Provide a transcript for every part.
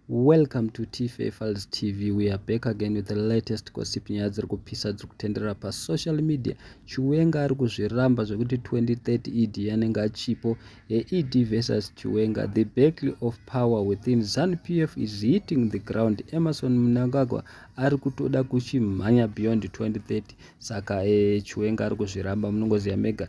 Welcome to Tife Files TV. We are back again with the latest gossip nyaya dziri kupisa dziri kutenderera pasocial media. Chiwenga ari kuzviramba zvekuti 2030 ED anenge achipo. ED versus Chiwenga. The battle of power within Zanu PF is hitting the ground. Emerson Mnangagwa ari kutoda kuchimhanya beyond 2030. Saka eh, Chiwenga ari kuzviramba munongoziva mega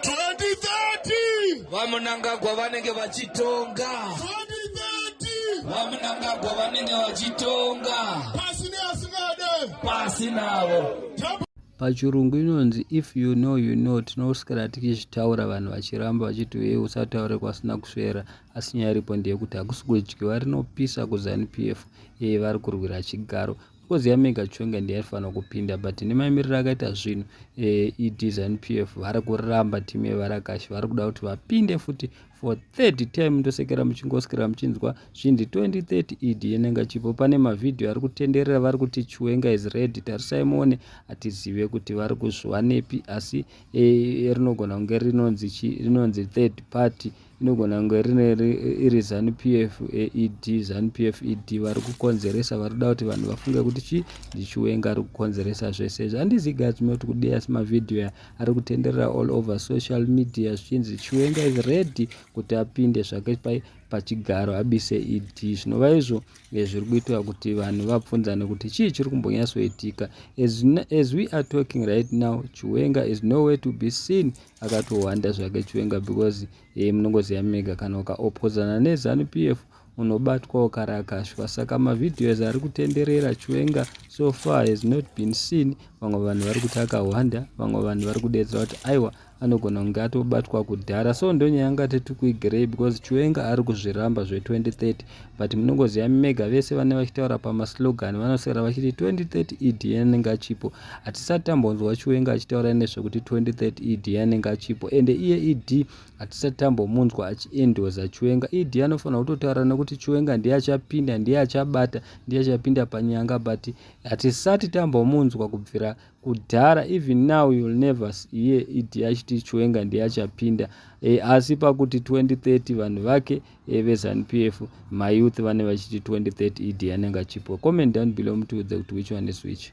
2030 vamunangagwa vanenge vachitonga 2030 vamunangagwa vanenge vachitonga pasi neasingade pasi navo pachirungu inonzi if you know you know tinoskara tichizvitaura vanhu vachiramba vachiti uye usataure kwasina kusvera asi nyaya iripo ndeyekuti hakusi kudyiwa rinopisa kuzanu p f yeye vari kurwira chigaro because yamega chonga ndiyaifanira kupinda but nemaimiriro akaita zvinhu eh, edesign p f vari kuramba timu yevarakashi vari kuda kuti vapinde futi for third time ndosekera muchingosikira muchinzwa zvindi 2030 ed yenenga chipo pane mavhidhiyo ari kutenderera vari kuti chiwenga is redi tarisai muone hatizive kuti vari kuzviwanepi asi eh, rinogona kunge rinonzi third party Inogona kunge rineri iri zanu pf aed zanu pf ed vari kukonzeresa vari kuda kuti vanhu vafunge kuti chii ndichiwenga ari kukonzeresa zvese izvi handizi guys moti kudei asi mavhidhiyo ari kutenderera all over social media zvichinzi chiwenga is ready kuti apinde zvake pai pachigaro abise ed zvinova izvo eh, zviri kuitwa kuti vanhu vabvunzane kuti chii chiri kumbonyatsoitika as we are talking right now chiwenga is no way to be seen akatohwanda zvake chiwenga because e, munongoziva mega kana ukaopozana nezanu p f unobatwa ukarakashwa saka mavideos ari kutenderera chiwenga so far has not been seen vamwe vanhu vari kuti akahwanda vamwe vanhu vari kudedzera kuti aiwa anogona kunge atobatwa kudhara so ndonyaya yanga tiri kuigirei because chiwenga ari kuzviramba zve2030 but munongoziva mega vese vane vachitaura pamaslogan vanoswera vachiti 2030 ed anenge achipo hatisati tambonzwa chiwenga achitaura nezvekuti 2030 ed anenge achipo ende iye ed hatisati tambomunzwa achiendoza chiwenga ed anofanira kutotaura nekuti chiwenga ndiye achapinda ndiye achabata ndiye achapinda panyanga but hatisati tambomunzwa kubvira kudhara even now you'll never hear it yachiti chiwenga ndiye achapinda e, asi pakuti 2030 vanhu vake e, vezanup f mayouth vane vachiti 2030 ed anenge achipwa comment down below mutiudze kuti which one is which